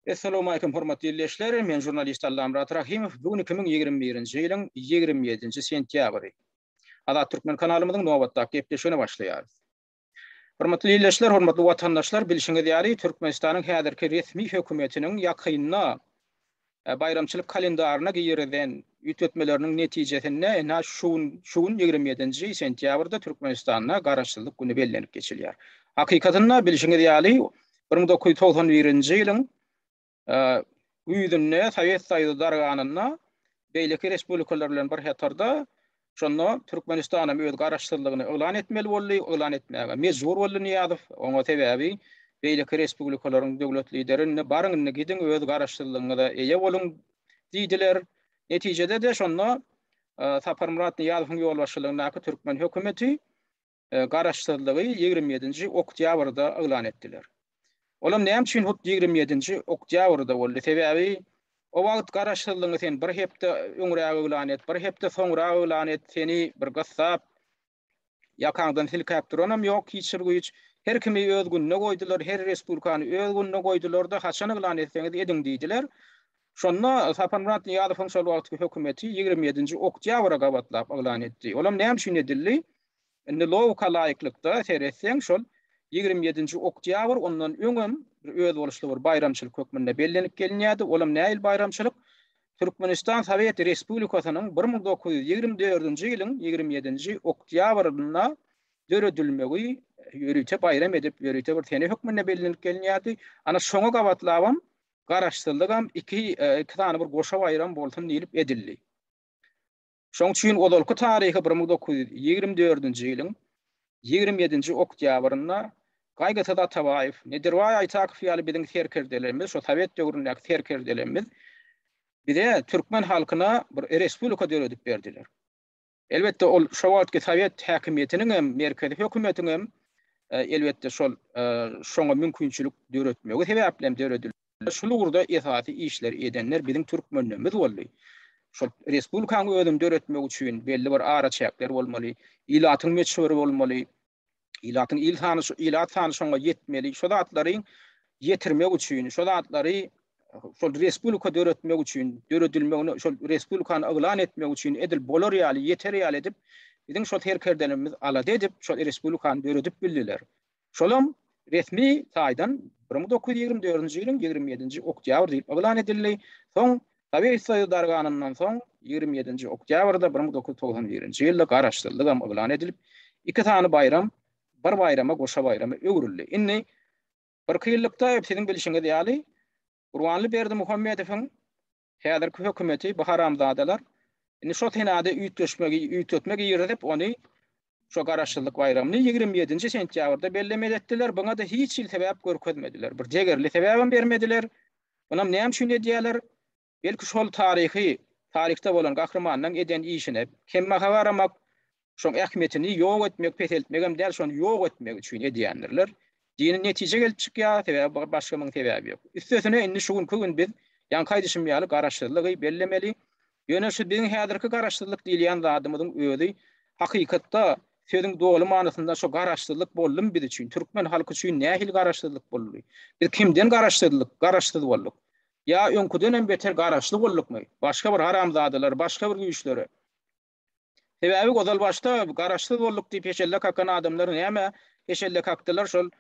Essalamualeýkum hormatly ildeşler, men žurnalist Allamyrat Rahimow, bu gün iki müň ýigrimi birinji ýylyň ýigrimi ýedinji sentýabry. Azat Türkmen kanalymyzyň nobatdaky gepleşigine başlaýarys. Hormatly ildeşler, hormatly watandaşlar, bilşiňiz ýaly, Türkmenistanyň häzirki resmi hökümetiniň ýakynda baýramçylyk kalendaryna girizen üýtgetmeleriniň netijesinde ine şu gün şu gün ýigrimi ýedinji sentýabrda Türkmenistanda Garaşsyzlyk güni bellenip geçilýär. Hakykatynda bilşiňiz ýaly bir müň dokuz ýüz togsan birinji ýylyň güýzünde Sowet Soýuzy darganyna beýleki respublikalar bilen bir hatarda Şonda Türkmenistanam öz garaşsyzlygyny yglan etmeli boldy, yglan etmäge mejbur boldy Nyýazow. Oňa sebäbi beýleki respublikalaryň döwlet lideri indi baryň indi gidiň öz garaşsyzlygyňyza eýe boluň diýdiler. Netijede-de şonda Saparmyrat Nyýazowyň ýolbaşçylygyndaky türkmen hökümeti Garaşsyzlygy ýigrimi ýedinji oktýabrda yglan etdiler. Olam näme üçin hut ýigrimi ýedinji oktýabrda boldy? Sebäbi o wagt Garaşsyzlygyňy sen bir hepde öňräk yglan et, bir hepde soňrak yglan et, seni bir gyssap, ýakaňdan silkäp duranam ýok hiç bir güýç. Her kimi öz gününe goýdular, her respublikany öz gününe goýdular-da, haçan yglan etseňiz ediň diýdiler. Şonda Saparmyrat Nyýazowyň şol wagtky hökümeti ýigrimi ýedinji oktýabra gabatlap yglan etdi. Olam näme üçin edildi? Indi logika laýyklykda seretseň şol ýigrimi ýedinji oktýabr ondan öňem bir özboluşly bir baýramçylyk hökmünde bellenip gelinýärdi. Olam nähili baýramçylyk? Türkmenistan Sowet Respublikasynyň bir müň dokuz ýüz ýigrimi dördünji ýylyň ýigrimi ýedinji oktýabrynda döredilmegi ýörite baýram edip, ýörite bir sene hökmünde bellenip gelinýärdi. Ana şoňa gabatlabam Garaşsyzlygam iki iki sany bir goşa baýram bolsun diýlip edildi. Şoň üçin ozalky taryhy bir müň dokuz ýüz ýigrimi dördünji ýylyň ýigrimi ýedinji oktýabrynda Gaýgysyz Atabaýew, Nedirbaý Aýtakow ýaly biziň serkerdelerimiz, şo sowet döwründäki serkerdelerimiz bize, türkmen halkyna bir respublika döredip berdiler. Elbetde, ol şo wagtky sowet häkimiýetiniň hem, merkezi hökümetiň hem, elbetde, şol şoňa mümkinçilik döretmegi sebäpli hem döredildi. Şul ugurda esasy işleri edenler biziň türkmenlerimiz boldy. Şol respublikanyň özüni döretmek üçin belli bir araçäkler bolmaly, ilatyň möçberi bolmaly, ilatyň il sany şu ilat sany şoňa ýetmeli. Şo zatlary ýetirmek üçin, şo zatlary şol respublika döretmek üçin, döredilmegini şol respublikany yglan etmek üçin edil bolar ýaly, ýeter ýaly edip biziň şol serkerdelerimiz alada edip şol respublikany döredip bildiler. Şolam resmi taýdan bir müň dokuz ýüz ýigrimi dördünji ýylyň ýigrimi ýedinji oktýabr diýip yglan edildi, soň Sowet Soýuzy darganyndan soň ýigrimi ýedinji oktýabrda bir müň dokuz ýüz togsan birinji ýylda Garaşsyzlygam yglan edilip, iki sany baýram bir baýrama goşa baýrama öwrüldi. Indi birki ýyllykda siziň bilşiňiz ýaly Gurbanly Berdimuhamedowyň Häzirki hökümeti bu haramzadalar indi şo senady üýtgeşmegi üýtetme girizip ony şo garaşsyzlyk baýramyny ýigrimi ýedinji sentýabrda bellemeli etdiler buňada hiç hil sebäp görkezmediler bir degerli sebäbem bermediler bunam näme üçin edýäler belki şol taryhy taryhda bolan gahrymanyň eden işine kemmaha garamak Şoň ähmiýetini ýok etmek, peseltmegem däl, şony ýok etmek üçin edýändirler. Dini netije gelip çykýar, sebäbi başga muň sebäbi ýok. Üstesine indi şu günki gün biz ýaňky aýdyşym ýaly garaşsyzlygy bellemeli. Ýöne şu biziň häzirki garaşsyzlyk diýilýän zadymyzyň özi hakykatda sözüň doly manysynda şu garaşsyzlyk boldumy biz üçin, türkmen halky üçin nähili garaşsyzlyk boldy? Biz kimden garaşsyzlyk, garaşsyz bolduk? Ýa öňküdenem beter garaşly boldukmy? Başga bir haramzadalar, başga bir güýçlere. Sebäbi ozalbaşda garaşsyz bolduk diýip heşelle kakan adamlar näme heşelle kakdylar şol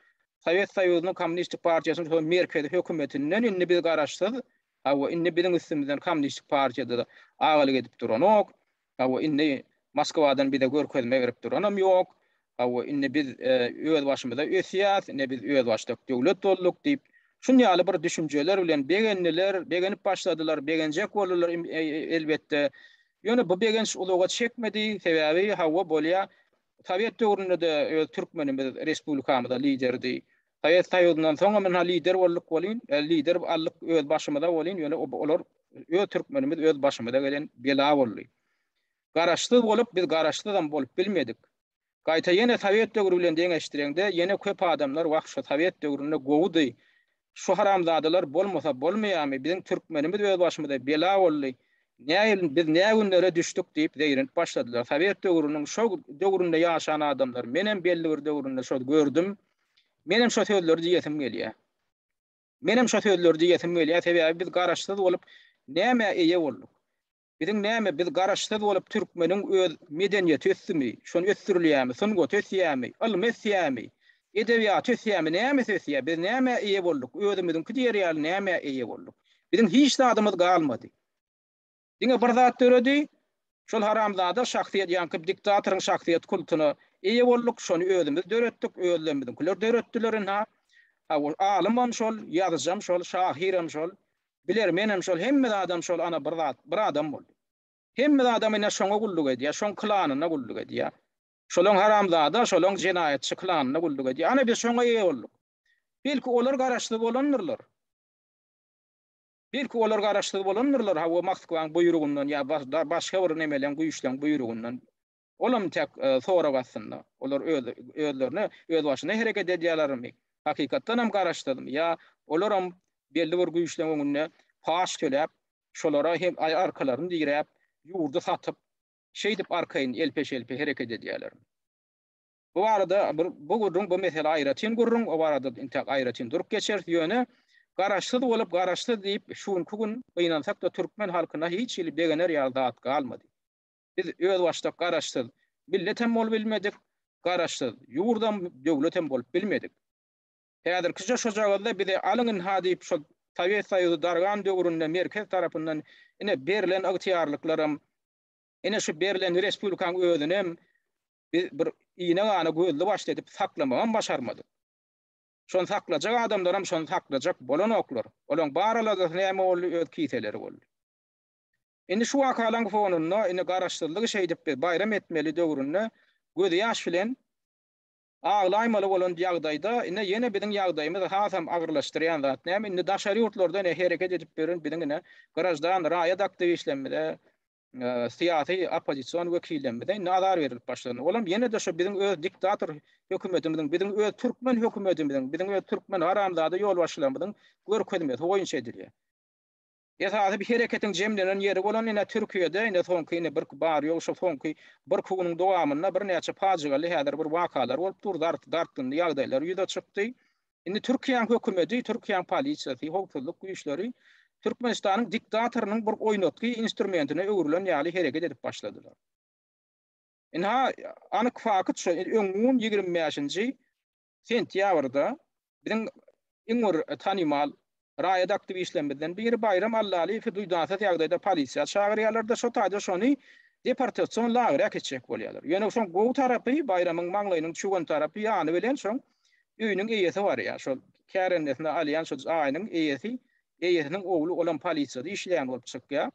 Sowet Soýuzynyň Kommunistik partiýasynyň şol merkezi hökümetinden indi biz garaşsyz hawa indi biziň üstümizden Kommunistik partiýada-da agalyk edip duranok hawa indi Moskwadan bize görkezme berip duranam ýok Hawa, indi biz özbaşymyza ösýäs, indi biz özbaşdak döwlet bolduk diýip, şun ýaly bir düşünjeler bilen begendiler, begenip başladylar, begenjek boldular elbetde. Ýöne bu begenç uzaga çekmedi, sebäbi hawa, bolýar, sowet döwründe-de öz türkmenimiz respublikamyza liderdi. Sowet Soýuzyndan soňam ynha lider bolduk welin, lider aldyk özbaşymyza welin, ýöne olar öz türkmenimiz özbaşymyza gelen bela boldy. Garaşsyz bolup biz garaşsyzam bolup bilmedik. Gaýta ýene sowet döwri bilen deňeşdireňde ýene köp adamlar wah şu sowet döwründe gowydy, şu haramzadalar bolmasa bolmaýamy, biziň türkmenimiz öz başymyza bela boldy, näin biz nä günlere düşdük diýip zeýrenip başladylar. Sowet döwrüniň şo döwründe ýaşan adamlar menem belli bir döwründe şo gördüm. Menem şo sözleri diýesim gelýär. Menem şo sözleri diýesim gelýär sebäbi biz garaşsyz bolup nämä eýe bolduk. Biziň näme biz garaşsyz bolup türkmeniň öz medeniýeti ösdümi, şony ösdürilýämi, sungaty ösýämi, ylmy ösýämi, edebiýaty ösýämi, nämesi ösýä, biz nämä eýe bolduk, özümiziňki diýer ýaly nämä eýe bolduk. Biziň hiç zadymyz galmady. Diňe bir zat döredi, şol haramzada şahsyýet ýaňky diktatoryň şahsyýet kultuna eýe bolduk, şony özümiz döretdik, özlerimiziňkiler döretdiler ynha. Alymam şol, ýazyjam şol, şahyrem şol, Biler, menem şol, hemme zadam şol, ana, bir zat, bir adam boldy. Hemme zadam ine şoňa gulluk edýär, şoň klanyna gulluk edýär. Şolaň haramzada, şolaň jenaýatçy klanyna gulluk edýär. Ana, biz şoňa eýe bolduk. Belki, olar garaşsyz bolandyrlar. Belki, olar garaşsyz bolandyrlar, hawa, Moskwaň buýrugyndan ýa başga bir nemeleň, güýçleň buýrugyndan. Olam tek sorag astynda. Olar öz özlerine özbaşyna hereket edýälermi? Hakykatdanam garaşsyzmy? Ýa olaram belli bir güýçleň öňünde paç töläp, şolara hem arkalaryny diräp, ýurdy satyp, şeýdip arkaýyn elpe-şelpe hereket edýälermi? Bu barada bir bu gürrüň bu mesele aýratyn gürrüň, o barada intäk aýratyn durup geçeris, ýöne garaşsyz bolup, garaşsyz diýip şu günki gün gynansak-da türkmen halkyna hiç hili begener ýaly zat galmady. Biz özbaşdak Garaşsyz millet hem bolup bilmedik, Garaşsyz ýurdam, döwletem bolup bilmedik. Häzirkije şojagazda bize alyň ynha diýip şo Sowet Soýuzy dargan döwründe merkez tarapyndan ine berlen ygtyýarlyklaram, ine şu berlen respublikaň özünem biz bir ine-gana gözli-başly edip saklamagam başarmadyk. Şony saklajak adamlaram şony saklajak bolanoklar. Olaň bar aladasyy näme boldy, öz kiseleri boldy. Indi şu wakalaň fonunda indi garaşsyzlygy şeýdip biz baýram etmeli döwründe gözýaş bilen aglaýmaly bolan ýagdaýda ine ýene biziň ýagdaýymyzy hasam agyrlaşdyrýan zat näme indi daşary ýurtlarda ine hereket edip ýören biziň ine graždan raýat aktiwistlerimize syýasy oppozision wekillerimize indi azar berilip başlandy olam ýene-de şu biziň öz diktator hökümetimiziň biziň öz türkmen hökümetimiziň biziň öz türkmen haramzada ýolbaşçylarymyzyň görkezmesi boýunça edilýär. Esasy hereketiň jemlenen ýeri bolan ine Türkiýede ine soňky ine birki bar ýogy şu soňky birki günüň dowamynda birnäçe pajygaly häzir bir wakalar bolup dur, dart dartgynly ýagdaýlar ýüze çykdy. Indi Türkiýäň hökümeti, Türkiýäň polisiýasy, howpsuzlyk güýçleri Türkmenistanyň diktatorynyň bir oýnatgy instrumentine öwrülen ýaly hereket edip başladylar. Ynha anyk fakyt şu öň gün ýigrimi bäşinji sentýabrda biziň iň bir tanymal raýat aktiwistlerimizden biri Baýram Allalyýewi duýdansyz ýagdaýda polisiýa çagyrýarlar-da, şo taýda şony deportasion lagerä äkitjek bolýarlar. Ýöne şoň gowy tarapy, Baýramyň maňlaýynyň çüwen tarapy ýany bilen şoň öýüniň eýesi barýar. Şol kärendesin alýan şo jaýynyň eýesi, eýesiniň ogly olam polisiýada işleýän bolup çykýar.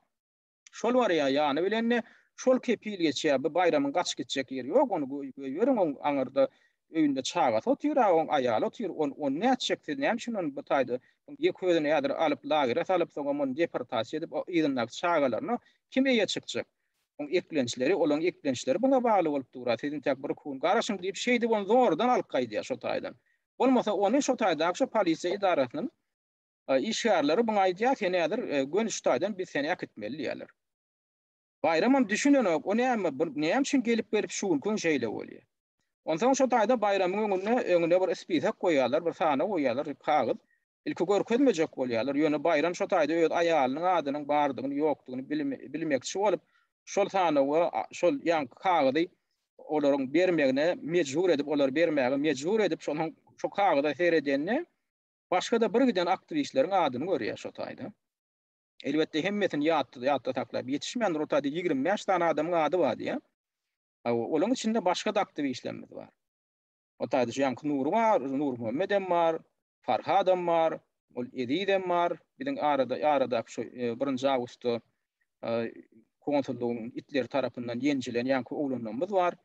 Şol barýa ýany bilende, şol kepil geçýä, bu Baýramyň gaç gitjek ýeri ýok, ony goýberiň, oň aňyrda öýünde çagasy otyr-a, oň aýaly otyr, on ony nätjek, siz näme üçin ony bu taýda, oň ýeke özüni häzir alyp lagere salyp, soňam ony deportasiýa edip, o yzyndaky çagalaryna kim eýe çykjak? Oň eklençleri, olaň eklençleri buňa bagly bolup dur-a, siz intäk bir kun garaşyň diýip, şeýdip ony zordan alyp gaýdýa şo taýdan. Bolmasa ony şo taýdaky şo polisiýa edarasyndan Işgärleri muňa aýdýar, Sen häzir Gönüş daýdan biz seni äkitmeli diýýärler. Baýramam düşünenok, O näme, bu näme üçin gelip gelip şu günki gün şeýle bolýar? Onsoň şo daýda Baýramyň öňünde öňüne bir spisak goýýarlar, bir sana goýýarlar, kagyz. Ilki görkezmejek bolýarlar, ýöne Baýram şo daýda öz aýalynyň adynyň bardygyny, ýokdugyny bilmekçi bolup, şol sanawa şol ýaňky kagyzy olaryň bermegine mejbur edip, olary bermäge mejbur edip, şonuň şo kagyza seredende, Başga-da birgiden aktiwistleriň adyny görýär şo taýda. Elbetde hemmesini ýatda saklap ýetişmändir, ol taýda ýigrimi bäş sany adamyň ady bar diýýär. Hawa, olaň içinde başga-da aktiwislerimiz bar. O taýda şu ýaňky Nury bar, Nurmuhammedem bar, Farhadam bar, ol Ezizem bar, biziň arada, aradaky şu birinji awgustda konsullygyň itleri tarapyndan ýenjilen ýaňky oglanlarymyz bar.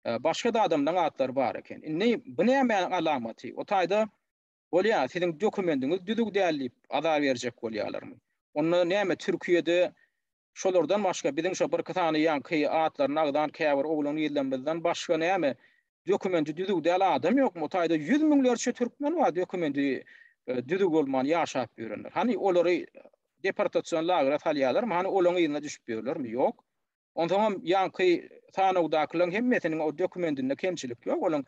başga-da adamlaryň atlary bar eken. Indi bu nämäniň alamaty? O taýda bolýa, siziň dokumendiňiz düzüw däl diýip aza berjek bolýalarmy? Onda näme Türkiýede şolardan başga biziň şo birki sany ýaňky atlaryny agzan käbir oglan-gyzlarymyzdan başga näme dokumendi düzüw däl adam ýokmy? O taýda ýüz müňlerçe türkmen bar dokumendi düzüw bolman ýaşap ýörenler. Hany olary deportasion lagere salýalarmy? Hany olaň yzyna düşüp ýörlermi? Ýok. Onsoňam ýaňky sanawdakylaryň hemmesiniň o dokumentinde kemçilik ýok, olaryň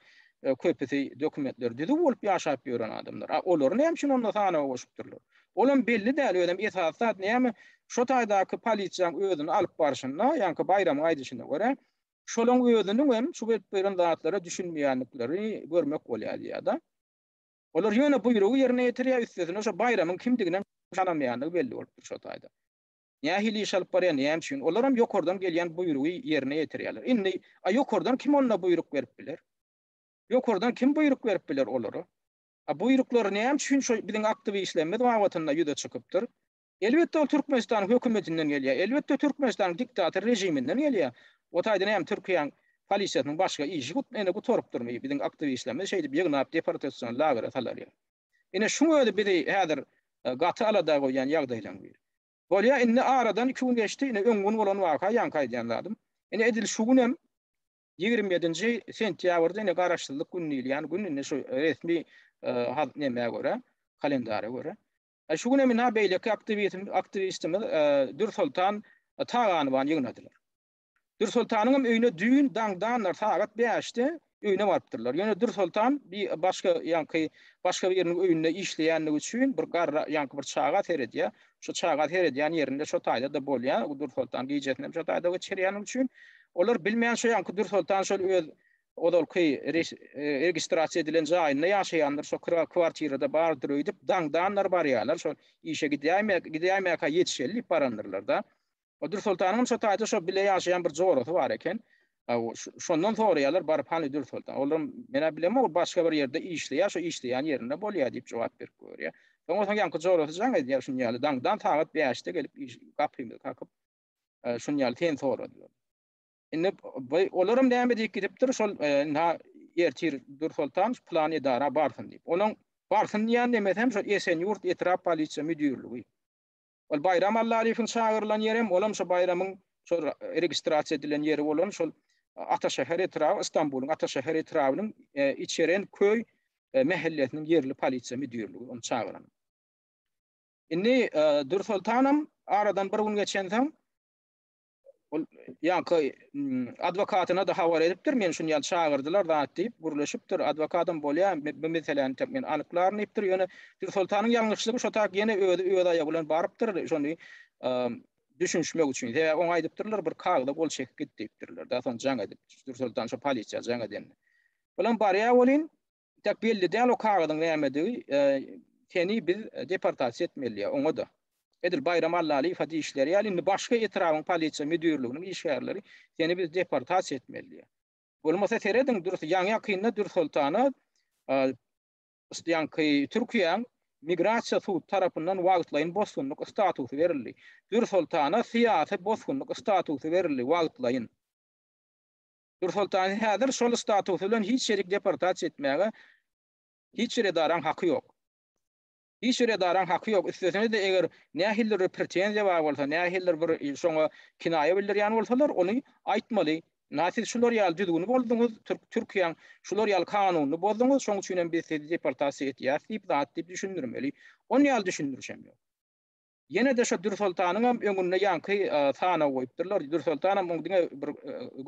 köpüsi dokumentleri düzüw bolup ýaşap ýören adamlar. A olary näme üçin onda sanawa goşupdyrlar? Olam belli däl, özem esasy zat näme? Şo taýdaky polisiýaň özüni alyp barşynda, ýaňky Baýramyň aýdyşyna görä, şolaň özüniň hem şu berip beren zatlara düşünmeýändikleri görmek bolýar diýýär-de. Olar ýöne buýrugy ýerine ýetirýär, üstesine şo Baýramyň kimdiginem tanamaýandygy belli bolupdyr şo taýda. Nähili iş alyp barýar, näme üçin? Olaram ýokardan gelýän buýrugy ýerine ýetirýärler. Indi, a ýokardan kim onda buýruk berip biler? Ýokardan kim buýruk berip biler olara? A buýruklary näme üçin şo biziň aktiwistlerimiz babatynda ýüze çykypdyr? Elbetde ol Türkmenistanyň hökümetinden gelýär. Elbetde Türkmenistanyň diktator režiminden gelýär. O taýda näme Türkiýäň polisiýasynyň başga işi gutarypdyrmy? Biziň aktiwistlerimizi şeýdip ýygnap deportasion lagere salarýar. Ine, şuň özi bizi häzir gaty alada goýýan ýagdaýlaryň biri. Bolýa, indi aradan iki gün geçdi, ine, öňňun bolan waka, ýaňky aýdýan zadym. Ine, edil şu gün hem, ýigrimi ýedinji sentýabrda, ine, Garaşsyzlyk güni diýilýän gün, indi şu resmi nemä görä, kalendara görä. Şu gün hem, ina, beýleki aktiwistimiz Dürsoltan Taganowany ýygnadylar. Dürsoltanyňam öýüne düýn daňdandyr, sagat bäşde öýüne barypdyrlar. Ýöne Dürsoltan bir başga ýaňky başga biriniň öýünde işleýändigi üçin bir garra ýaňky bir çaga seredýär. Şo çaga seredýän ýerinde şo taýda-da bolýar. Dürsoltan gijesinem şo taýda geçirýändigi üçin olar bilmeýän şo ýaňky Dürsoltan şol öz ozalky registrasiýa edilen jaýynda ýaşaýandyr, şo kira kwartirada bardyr öýdüp daňdandyr barýarlar. Şo işe gidýäýmäk, gidýäýmäkä ýetişeli diýip barandyrlar-da. O Dürsoltanyňam şo taýda şo bile ýaşaýan bir jorasy bar eken. Şondan soraýarlar baryp hany Dürsoltan. Olar menä bilemok, ol başga bir ýerde işleýär, şo işleýän ýerinde bolýar diýip jogap berip görýär. Soňra soň ýaňky jorasy jaň edýär şuny ýaly daňdan sagat 5-de gelip gapymyzy kakyp şuny ýaly sen soradylar. Indi olaram näme diýip gidipdir şol indi ertir Dürsoltan plan edara barsyn diýip. Onuň barsyn diýen demesem şo Esenýurt etrap polisiýa müdirligi. Ol Baýram Allalyýewiň çagyrylan ýeri hem, olam şo Baýramyň şo registrasiýa edilen ýeri bolan şol Ataşäher etraby, Istanbulyň Ataşäher etrabynyň Içeren köý mähellesiniň ýerli polisiýa müdirligi ony çagyran. Indi Dürsoltanam aradan bir gün geçensoň, Ol ýanka adwokatyna da habar edipdir, men şuny ýan çagyrdylar zat diýip gürleşipdir. Adwokatym bolýar, bu meseläni täk men anyklaryn diýipdir. Ýöne Soltanyň ýalňyşlygy şo tak ýene özi öz aýagy bilen barypdyr, şony düşünişmek üçin. Sebäbi oňa aýdypdyrlar, bir kagyza gol çekip git diýipdirler. Daşan jaň edip, Soltan şo polisiýa jaň edende. Olam barýar welin, Tek belli däl o kagyzyň nämedigi, seni biz deportasiýa etmeli, oňa-da. Edil Baýram Allalyýewe diýişleri ýaly, indi başga etrabyň polisiýa müdirliginiň işgärleri seni biz deportasiýa etmeli. Bolmasa serediň, ýaňy-ýakynda Dürsoltana ýaňky Türkiýäň Migrasiýa sudy tarapyndan wagtlaýyn bosgunlyk statusy berildi. Dürsoltana syýasy bosgunlyk statusy berildi wagtlaýyn. Nursoltany häzir şol statusy bilen hiç ýerik deportasiýa etmäge hiç bir edaraň haky ýok. Hiç bir edaraň haky ýok. Üstesine-de eger nähilidir bir pretenziýa bar bolsa, nähilidir bir şoňa kinaýa bildirýän bolsalar, ony aýtmaly. Na siz şular ýaly düzgüni bozduňyz, Türkiýäň şular ýaly kanunyny bozduňyz, şoň üçinem biz sizi deportasiýa etýäs diýip zat diýip düşündirmeli. Ony ýaly düşündiriş hem ýok. Ýene-de şo Dürsoltanyňam öňünde ýaňky sanawy goýupdyrlar. Dürsoltanam oň diňe bir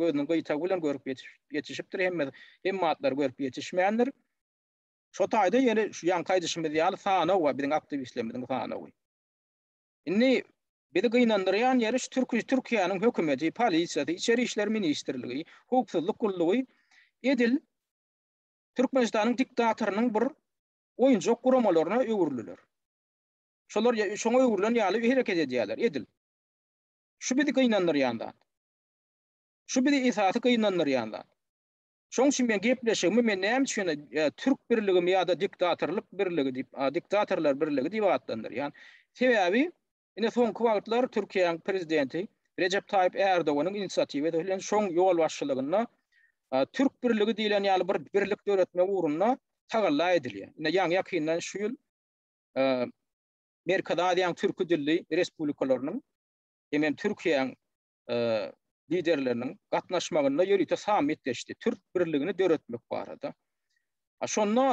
gözüniň gyýtagy bilen görüp ýetişipdir, hemme hemme atlary görüp ýetişmändir. Şo taýda ýene şu ýaňky aýdyşymyz ýaly sanaw bar, biziň aktiwistlerimiziň sanawy. Indi bizi gynandyrýan ýeri şu türki Türkiýäniň hökümeti, polisiýasy, içeri işler ministrligi, howpsuzlyk gullugy edil Türkmenistanyň diktatorynyň bir oýunjak guramalaryna öwrüliler. Şolar şoňa öwrülen ýaly hereket edýärler, edil. Şu bizi gynandyrýan zat. Şu bizi esasy gynandyrýan zat. Şoň üçin men gepleşigimi men näme üçin Türk birligimi ýa-da diktatorlyk birligi diýip, diktatorlar birligi diýip atlandyrýan. Sebäbi ine soňky wagtlar Türkiýäň prezidenti Rejep Taýyp Ärdoganyň inisiatiwasy bilen şoň ýolbaşçylygynda Türk birligi diýlen ýaly bir birlik döretmek ugrunda tagalla edilýär. Ine ýaňy-ýakyndan şu ýyl Merkezi Aziýanyň türki dilli respublikalarynyň hem-ä Türkiýäň Liderleriniň gatnaşmagynda ýörite sammit geçdi. Türk birligini döretmek barada. Şonda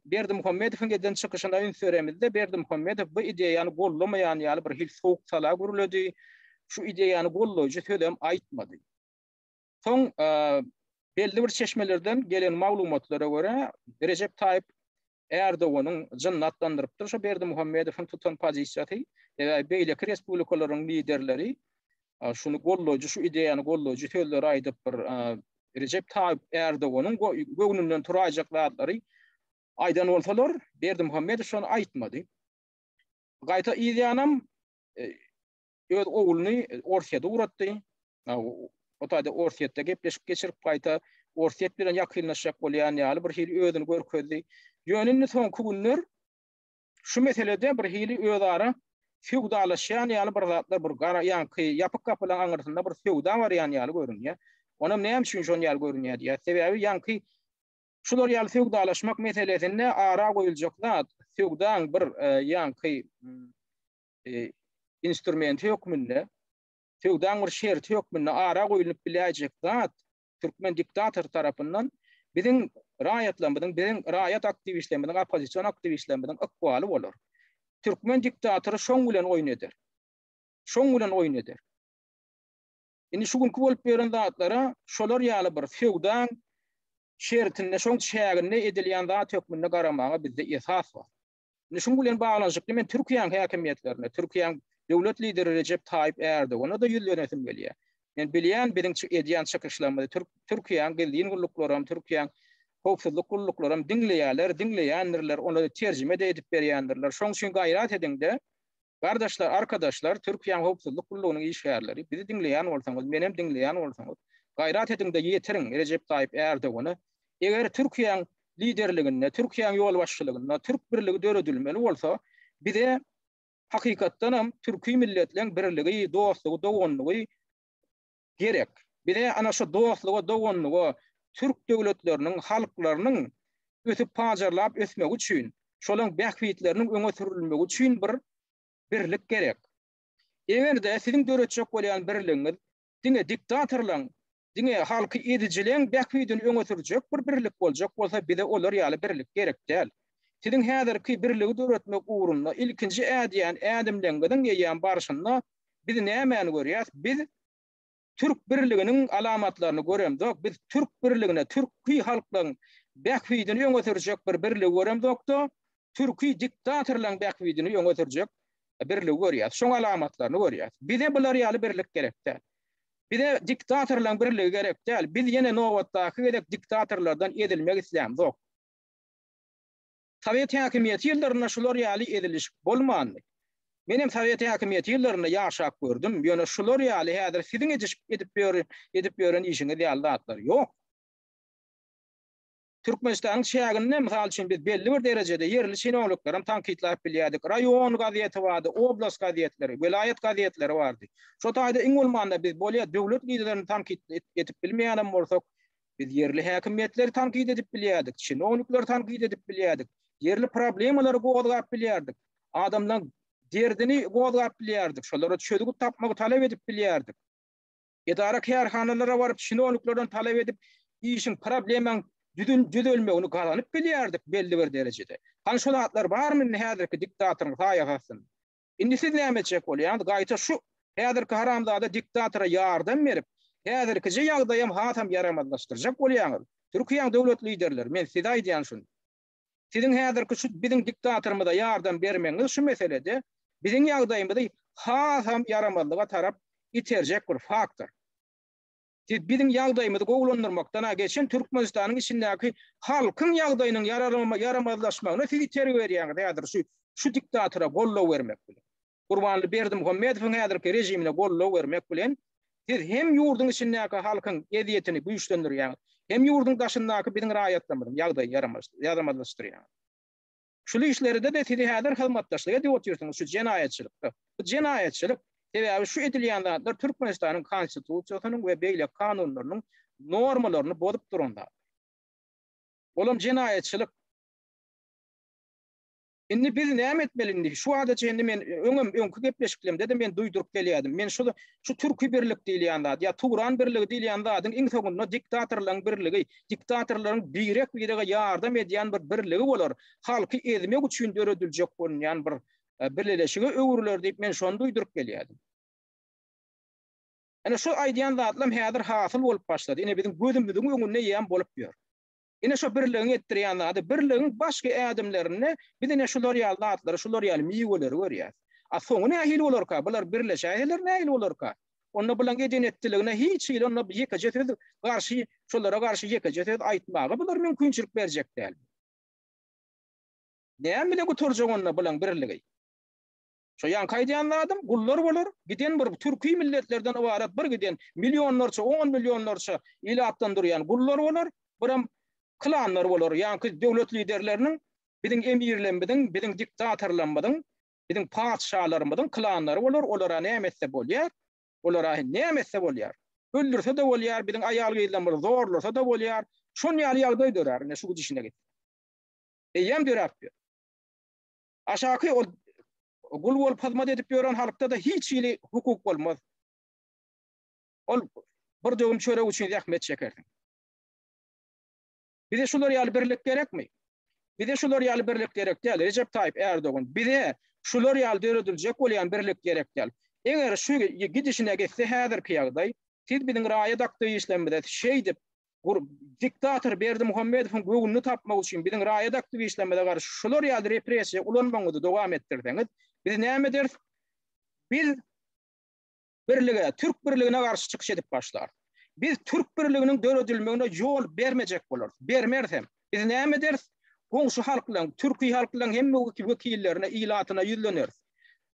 Berdimuhamedowyň eden çykyşyna üns beremizde, Berdimuhamedow bu ideýany goldamaýan ýaly bir hil sowuk-sala gürledi. Şu ideýany goldaýjy sözem aýtmady. Soň belli bir çeşmelerden gelen maglumatlara görä, Rejep Taýyp Ärdoganyň jynyny atlandyrypdyr şu Berdimuhamedowyň tutan pozisiýasy. Eger beýleki respublikalaryň liderleri şuny goldaýjy, şu ideýany goldaýjy sözleri aýdyp bir Rejep Taýyp Ärdoganyň göwnünden turaýjak zatlary aýdan bolsalar, Berdimuhamedow şony aýtmady. Gaýta ideýanam öz ogluny Orsýete ugratdy. O taýda Orsýetde gepleşik geçirip gaýta Orsýet bilen ýakynlaşjak bolýan ýaly bir hili özüni görkezdi. Ýöne indi soňky günler şu meselede bir hili özara söwdalaşýan ýaly bir zatlar bir gara ýaňky ýapyk gapylaryň aňyrsynda bir söwda barýan ýaly görünýär. Onam näme üçin şon ýaly görünýär diýýär. Sebäbi ýaňky şular ýaly söwdalaşmak meselesinde ara goýuljak zat söwdaň bir e, ýaňky e, instrumenti hökmünde, söwdaň bir şerti hökmünde ara goýlunyp biläýjek zat türkmen diktator tarapyndan biziň raýatlarymyzyň, biziň raýat aktiwistlerimiziň, oppozision aktiwistlerimiziň ykbaly bolar. Türkmen diktatory şoň bilen oýun eder. Şoň bilen oýun eder. Indi şu günki bolup beren zatlara şolar ýaly bir söwdaň şertinde, şoň çäginde edilýän zat hökmünde garamaga bizde esas bar. Indi şunuň bilen baglanyşykly men Türkiýäniň häkimiýetlerine, Türkiýäniň döwlet lideri Rejep Taýyp Ärdogana da ýüzlenesim gelýär. Men bilýän biziň edýän çykyşlarymyzy Türk Türkiýäniň gizlin gulluklary hem, Türkiýäniň howpsuzlyk gulluklary hem diňleýärler, diňleýändirler, olara terjime-de edip berýändirler. Şonuň üçin gaýrat ediň-de, Gardaşlar, arkadaşlar, Türkiýäň howpsuzlyk gullugynyň işgärleri, bizi diňleýän bolsaňyz, menem diňleýän bolsaňyz, gaýrat ediňde ýetiriň Rejep Taýyp Ärdogana, eger Türkiýäň liderliginde, Türkiýäň ýolbaşçylygynda türk birligi döredilmeli bolsa, bize hakykatdanam türki milletleň birligi, dostlugy, doganlygy, gerek. Bize ana şu dostluga, doganlyga, türk döwletleriniň, halklarynyň ösüp-pajarlap ösmegi üçin, şolaryň bähbitleriniň öňe sürülmegi üçin bir birlik gerek. Eger-de siziň döretjek bolýan birligiňiz diňe diktatorlaryň, diňe halky ezijileň bähbidini öňe sürjek bir birlik boljak bolsa, bize olar ýaly birlik gerek däl. Siziň häzirki birligi döretmek ugrunda ilkinji ädýän ädimleňiziň eýýäm barşynda Biz nämäni görýäs? Biz Türk birliginiň alamatlaryny göremzok. Biz Türk birligine, türki halklaryň bähbidini öňe sürjek bir birligi göremzok-da, türki diktatorlaryň bähbidini öňe sürjek birligi görýäs. Şoň alamatlaryny görýäs. Bize bular ýaly birlik gerek däl. Bize diktatorlaryň birligi gerek däl. Biz ýene nobatdaky gezek diktatorlardan ezilmek islämzok. Sowet häkimiýeti ýyllarynda şular ýaly ezilişik bolmandy. Menem sowet häkimiýeti ýyllarynda ýaşap gördüm, ýöne şular ýaly häzir siziň edip ýören işiňiz ýaly zatlar ýok. Türkmenistanyň çäginde, mysal üçin, biz belli bir derejede ýerli çinowniklerem tankytlap bilýärdik. Raýon gazeti bardy, oblast gazetleri, welaýat gazetleri bardy. Şo taýda iň bolmanda biz bolýa döwlet liderlerini tankyt edip bilmeýänem bolsak, Biz ýerli häkimiýetleri tankyt edip bilýärdik, çinownikleri tankyt edip bilýärdik, ýerli problemalary gozgap bilýärdik, adamlaryň derdini gozgap bilýärdik, şolara çözgüt tapmagy talap edip bilýärdik. Edara-kärhanalara baryp, çinowniklerden talap edip, işiň, problemaň düzelmegini gazanyp bilýärdik belli bir derejede. Hany şo zatlar barmy indi häzirki diktatoryň saýasatynda? Indi siz näme etjek bolýaňyz? Gaýta şu häzirki haramzada diktatora ýardam berip, häzirkije ýagdaýam hasam ýaramazlaşdyrjak bolýaňyz? Türkiýäň döwlet liderleri, men size aýdýan şuny. Siziň häzirki şu biziň diktatorymyza ýardam bermegiňiz şu meselede biziň ýagdaýymyzy hasam ýaramazlyga tarap iterjek bir faktor. Siz biziň ýagdaýymyzy gowulandyrmakdan-a geçen Türkmenistanyň içindäki halkyň ýagdaýynyň ýaramazlaşmagyna siz itergi berýäňiz häzir şu şu diktatora goldaw bermek bilen. Gurbanly Berdimuhamedowyň häzirki režimine goldaw bermek bilen siz hem ýurduň içindäki halkyň ezýetini güýçlendirýäňiz hem ýurduň daşyndaky biziň raýatlarymyzyň ýagdaýy ýaramazlaşdyrýaňyz. Şul işlerdede sizi häzir hyzmatdaşlyk edip otyrsyňyz şu jenaýatçylykda. Bu jenaýatçylyk, sebäbi şu edilýän zatlar Türkmenistanyň konstitusiýasynyň we beýleki kanunlarynyň normalaryny bozup duran zat. Olam jenaýatçylyk. Indi biz näme etmeli indi? Şu wada çenli men öňem öňki gepleşiklerimde-de men duýduryp gelýärdim. Men şu şu türki birlik diýilýän zat ýa Turan birligi diýilýän zadyň iň soňunda diktatorlaryň birligi, diktatorlaryň birek-birege ýardam edýän bir birligi bolar, halky ezmek üçin dörediljek bolunýan bir birleşige öwrüler diýip men şony duýduryp gelýärdim. Ine şu aýdýan zatlam häzir hasyl bolup başlady, ine biziň gözümiziň öňünde ýam bolup ýör. Ine şu birligiň etdirýän zady, birligiň başky ädimlerinde biz ine şular ýaly zatlary, şular ýaly miweleri görýäs. A soňy nähili bolarka, bular birleşäýseler nähili bolarka? Onda bulaň edenetdiligine hiç hili onda ýekeje söz garşy şolara garşy ýekeje söz aýtmaga bular mümkinçilik berjek däl. Näme bilen gutarjak onda bulaň birligi? Şo ýaňky aýdýan zadym gullar bolar, giden bir türki milletlerden ybarat bir giden millionlarça, on millionlarça ilatdan durýan gullar bolar, biram klanlar bolar, ýaňky döwlet liderleriniň, biziň emirlembiziň, biziň diktatorlamyzyň Biziň patyşalarymyzyň klanlary bolar, olara näme etse bolýar. Olara näme etse bolýar. Öldürse-de bolýar, biziň aýal-gyzlarymyzy zorlasa-da bolýar. Şon ýaly ýagdaý dörär, ine, şu gidişine git. Eýýäm döräp ýör. Aşaky ol gul bolup hyzmat edip ýören halkda-da hiç hili hukuk bolmaz. Ol bir döwüm çörek üçin zähmet çekersiň. Bize şular ýaly birlik gerekmi? Bize şular ýaly birlik gerek däl. Rejep Taýyp Erdogan bize şular ýaly dörediljek bolýan birlik gerek däl. Eger şu gidişine gitse häzirki ýagdaý, siz biziň raýat aktiwistlerimize şeýdip diktator Berdimuhamedowyň göwnüni tapmak üçin biziň raýat aktiwistlerimize garşy şular ýaly repressiýa ulanmagyňyzy dowam etdirseňiz, biz näme ederis? Biz Birlige, Türk birligine garşy çykyş edip başlar. Biz Türk birliginiň döredilmegine ýol bermejek bolarys. Bermeris hem. Biz näme ederis? Goňşy halklaryň, türki halklaryň hemme wekillerine, ilatyna ýüzleneris.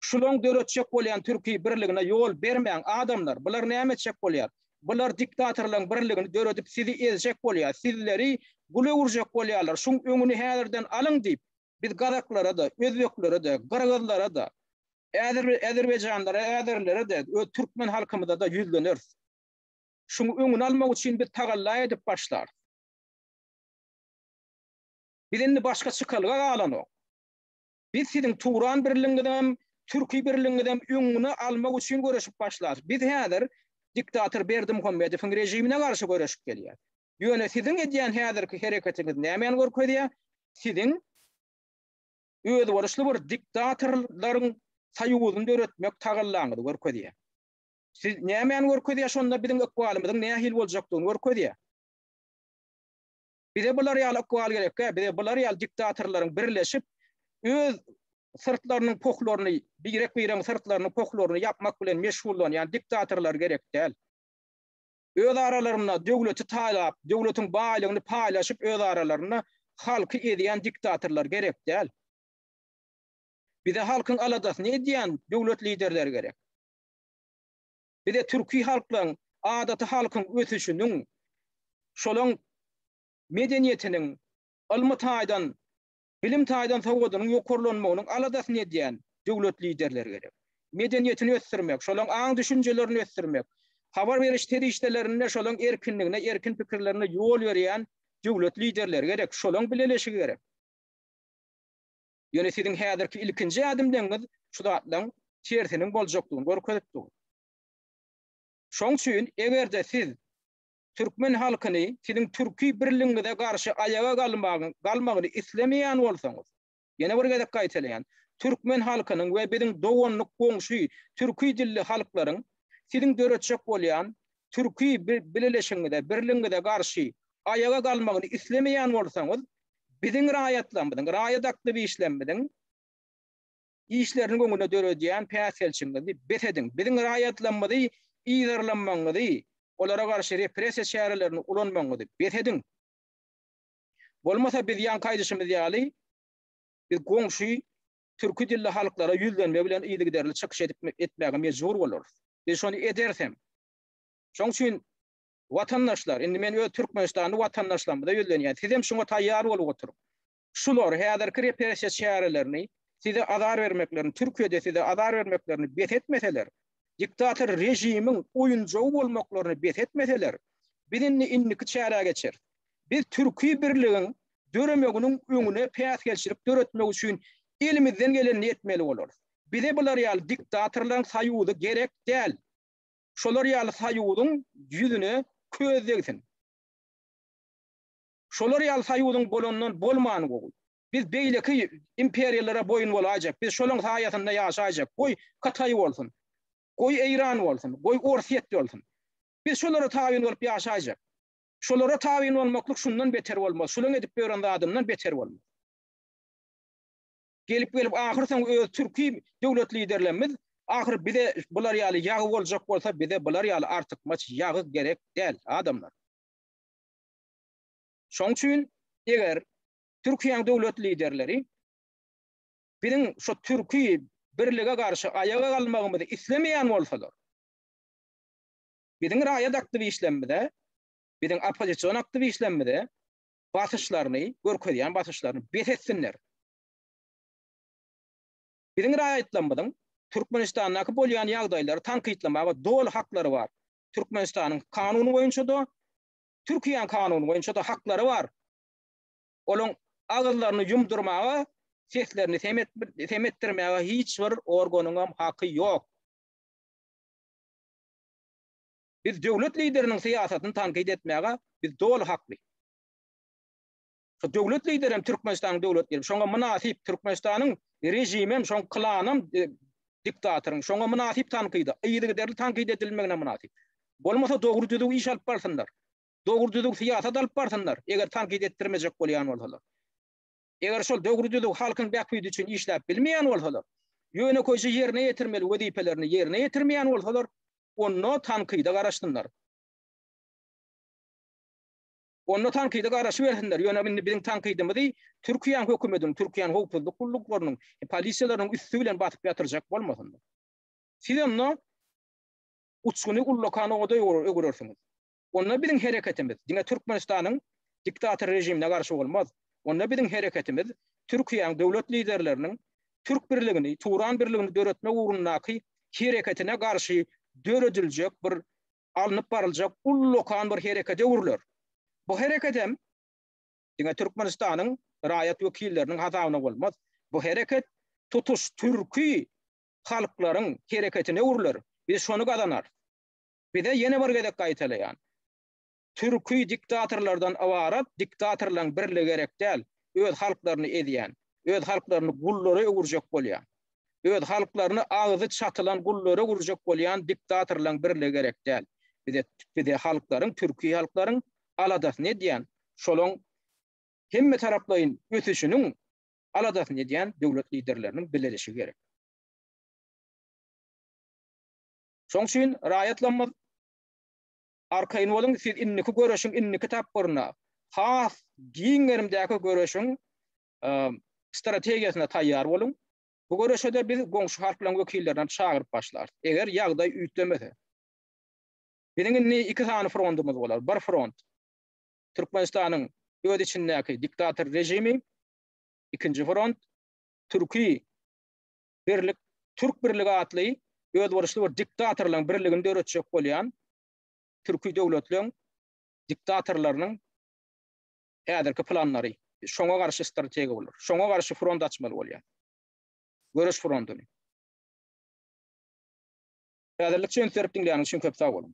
Şulaň döretjek bolýan türki birligine ýol bermäň, adamlar! Bular näme etjek bolýar? Bular diktatorlaryň birligini döredip sizi ezjek bolýar, sizleri gul öwürjek bolýarlar. Şuň öňüni häzirden alyň! diýip, Biz gazaklara-da, özbeklere-de, gyrgyzlara-da, äzer-äzerbaýjanlara, äzerlere-de we türkmen halkymyza-da ýüzleneris. Şuň öňüni almak üçin biz tagalla edip başlarys. Biz indi başga çykalga galanok. Biz siziň Turan birligiňizem, Türki birligiňizem öňüni almak üçin göreşip başlarys. Biz häzir diktator Berdimuhamedowyň režimine garşy göreşip gelýäris. Ýöne siziň edýän häzirki hereketiňiz nämäni görkezýär? Siziň özboluşly bir diktatorlaryň soýuzyny döretmek tagallaňyzy görkezýär. Siz nämäni görkezýär şonda biziň ykbalymyzyň nähili boljakdygyny görkezýär. Bize bular ýaly ykbal gerekkä, bize bular ýaly diktatorlaryň birleşip öz syrtlarynyň pohlaryny, birek-biregiň syrtlarynyň pohlaryny ýapmak bilen meşgullanýan diktatorlar gerek däl. Öz aralarynda döwleti talap, döwletiň baýlygyny paýlaşyp öz aralarynda halky ezýän diktatorlar gerek däl. Bize halkyň aladasyny edýän döwlet liderleri gerek. Bize türki halklaryň, adaty halkyň ösüşiniň, şolaň medeniýetiniň ylmy taýdan bilim taýdan sowgadynyň ýokarlanmagynyň aladasyny edýän döwlet liderleri gerek. Medeniýetini ösdürmek, şolaň aň-düşünjelerini ösdürmek, habar beriş serişdelerinde şolaň erkinligine, erkin pikirlerine ýol berýän döwlet liderleri gerek, şolaň bileleşigi gerek. Ýöne siziň häzirki ilkinji ädimleňňiz şu zatlaň tersiniň boljakdygyny görkezip dur. Şoň üçin eger-de siz Türkmen halkyny siziň türki birligiňize garşy aýaga galmagyň galmagyny islemeýän bolsaňyz, ýene bir gezek gaýtalaýan, türkmen halkynyň we biziň doganlyk goňşy türki dilli halklaryň siziň döretjek bolýan türki bileleşigiňize, birligiňize garşy aýaga galmagyny islemeýän bolsaňyz, biziň raýatlarymyzyň, raýat aktiwistlerimiziň, işleriniň öňüne döredýän päsgelçiňizi bes ediň, biziň raýatlarymyzy yzarlamagyňyzy, olara garşy repressiýa çärelerini ulanmagyňyzy bes ediň. Bolmasa biz ýaňky aýdyşymyz ýaly, biz goňşy türki dilli halklara ýüzlenme bilen yzygiderli çykyş edip etmäge mejbur bolarys. Biz şony ederis hem. Şoň üçin watandaşlar, indi men öz türkmenistanly watandaşlarymyza ýüzlenýän, sizem şuňa taýýar bolup oturyň. Şular, häzirki repressiýa çärelerini, size azar bermeklerini, Türkiýede size azar bermeklerini bes etmeseler, diktator režimiň oýunjagy bolmaklaryny bes etmeseler, biz indi indiki çärä geçeris. Biz türki birligiň döremeginiň öňüne päsgelçilik döretmek üçin elimizden gelenini etmeli bolarys. Bize bular ýaly diktatorlaryň soýuzy gerek däl. Şolar ýaly soýuzyň ýüzüne köz degsin. Şolar ýaly soýuzyň bolandan bolmany gowy. Biz beýleki imperiýalara boýun bolaýjak, biz şolaň saýasynda ýaşaýjak. Goý, Kataý bolsun. Goý, Eýran bolsun. Goý, Orsýet bolsun. Biz şolara tabyn bolup ýaşaýjak. Şolara tabyn bolmaklyk şundan beter bolmaz, şolaň edip ýören zadyndan beter bolmaz. Gelip-gelip ahyrsoňy öz türki döwlet liderlerimiz ahyry bize bular ýaly ýagy boljak bolsa bize bular ýaly artykmaç ýagy gerek däl adamlar. Şoň üçin eger Türkiýäň döwlet liderleri biziň şu türki birlige garşy aýaga galmagymyzy islemeýän bolsalar, biziň raýat aktiwişlerimize, biziň oppozision aktiwişlerimize basyşlaryny, görkezýän basyşlaryny bes etsinler. Biziň raýatlarymyzyň Türkmenistandaky bolýan ýagdaýlary tankytlamaga doly haklary bar. Türkmenistanyň kanuny boýunça-da, Türkiýäň kanuny boýunça-da haklary bar. Olaň agyzlaryny ýumdurmaga, seslerini sem etdirmäge hiç bir organyňam haky ýok. Biz döwlet lideriniň syýasatyny tankyt etmäge biz doly hakly. Şu döwlet lideri hem Türkmenistanyň döwlet lideri. Şoňa mynasyp Türkmenistanyň režimi hem şoň klan hem e, diktatoryň. Şoňa mynasyp tankyda, yzygiderli tankyt edilmegine mynasyp. Bolmasa dogry düzüw iş alyp barsynlar. Dogry düzüw syýasat alyp barsynlar, eger tankyt etdirmejek bolýan bolsalar. Eger şol dogry düzüw halkyň bähbidi üçin işläp bilmeýän bolsalar, ýöne köýje ýerine ýetirmeli wezipelerini ýerine ýetirmeýän bolsalar, onda tankyda garaşsynlar. Onda tankyda garaşybersinler, ýöne indi biziň tankydymyzy Türkiýäň hökümetiniň, Türkiýäň howpsuzlyk gulluklarynyň, polisiýalarynyň üsti bilen basyp ýatyrjak bolmasynlar. Siz onda uçguny ullakan oda öwürersiňiz. Onda biziň hereketimiz diňe Türkmenistanyň diktator režimine garşy bolmaz. Onda biziň hereketimiz Türkiýäň döwlet liderleriniň Türk birligini, Turan birligini döretmek ugrundaky hereketine garşy dörediljek bir alnyp baryljak ullakan bir herekete öwrüler. Bu hereket hem diňe Türkmenistanyň raýat wekilleriniň hasabyna bolmaz. Bu hereket tutuş türki halklaryň hereketine öwrüler. Biz şony gazanarys. Bize ýene bir gezek gaýtalaýan, türki diktatorlardan ybarat diktatorlaryň birligi gerek däl, öz halklaryny ezýän, öz halklaryny gullara öwürjek bolýan Öz halklaryny agzy çatylan gullara urjak bolýan diktatorlaň birligi gerek däl. Bize bize halklaryň türki halklaryň aladasyny edýän şolaň hemmetaraplaýyn ösüşiniň aladasyny edýän döwlet liderleriniň bilelişigi gerek. Şoň üçin raýatlamyz arkaýyn boluň siz indiki göreşiň indiki tapgyryna has giň gerimdäki göreşiň strategiýasyna taýýar boluň. Bu göreşe-de biz goňşy halklaryň wekillerini çagyryp başlarys. Eger ýagdaý üýtgemese. Biziň indi iki sany frontumyz bolar. Bir front, Türkmenistanyň öz içindäki diktator režimi, ikinji front, Türki birlik, Türk birligi atly özboluşly bir diktatorlaryň birligini döretjek bolýan türki döwletleriň diktatorlarynyň häzirki planlary şoňa garşy strategiýa bolar. Şoňa garşy front açmaly bolýar. Göreş frontuny. Häzirlikçe üns berip diňläniňiz üçin köp sag boluň.